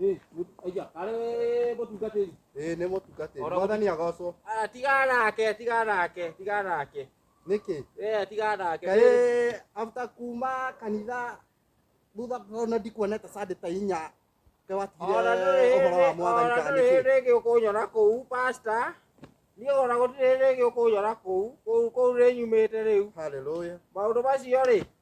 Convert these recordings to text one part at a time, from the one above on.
Eh, aya, kare mutungatiri. Eh, ni mutungatiri. Mwathani agocwo. Ah, tiga nake, tiga nake, tiga nake. Niki? Eh, tiga nake. Kae after kuma kanitha thutha ona ndikuonete sande ta inya. Ke watigire uhoro wa mwathani kana niki? Ona rege ukunyona kuu pastor. Ni ona gutire rege ukunyona kuu, kuu kuu rinyumite riu. Hallelujah. Maundu macio ri.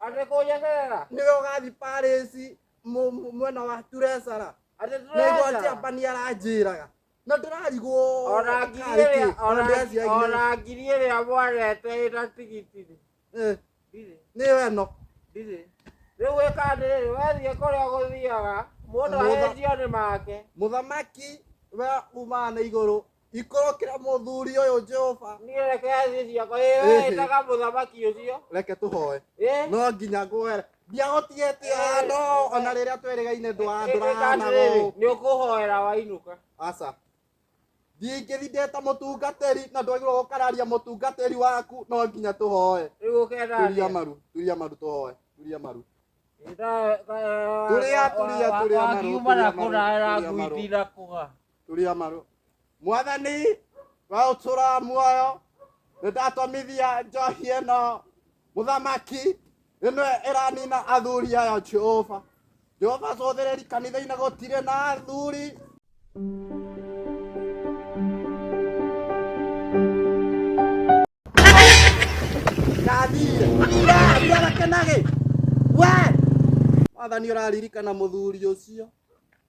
Ate kũnyeterera. nĩwe ũgathiĩ Paris mu- mu- mwena wa Turesara Ate na igoti tũresa. amba nĩ aranjĩraga na ndĩrarigwo Ona ngiri karĩ kĩ, ĩrĩa- ona ona- ndĩraciagire. ona ngiri ĩrĩa mwarete ĩna tigitiri. Eh, Ndirĩ. nĩ we no Ndirĩ. Rĩu wĩka atĩrĩrĩ, wethiĩ kũrĩa gũthiaga, mũndũ Mũtha- ahĩnjio nĩ make. mũthamaki we umaga na igũrũ ikorokera muthuri uyu Jehova niä reke thiä ciakwa ä Ĩhĩ. wetaga må thamaki å cio reke tũhoe Ĩ. no nginya ngwere ndiahotire tia no ona rĩrĩa twerĩgaine ndwa- ndũrahana gũkũ nä å kå hoera wainå ka aca ndingĩthi ndeta mũtungatĩri na ndwagĩrwo gũkararia mũtungatĩri waku no nginya tũhoe rä u å turia kenda maru turia maru tũhoe turia maru Turia, turia, turia, maru, kiuma na turia, kå maru, raera turia, maru. nguiti na kå ga turia maru mwathani wa utura muoyo nindatomithia njohi ĩno mũthamaki ĩno ĩranina athuri aya jehova jehova cũthĩrĩri kanitha-inĩ gũtirĩ na athuri ndathire ndakenage we mwathani ũraririkana mũthuri ũcio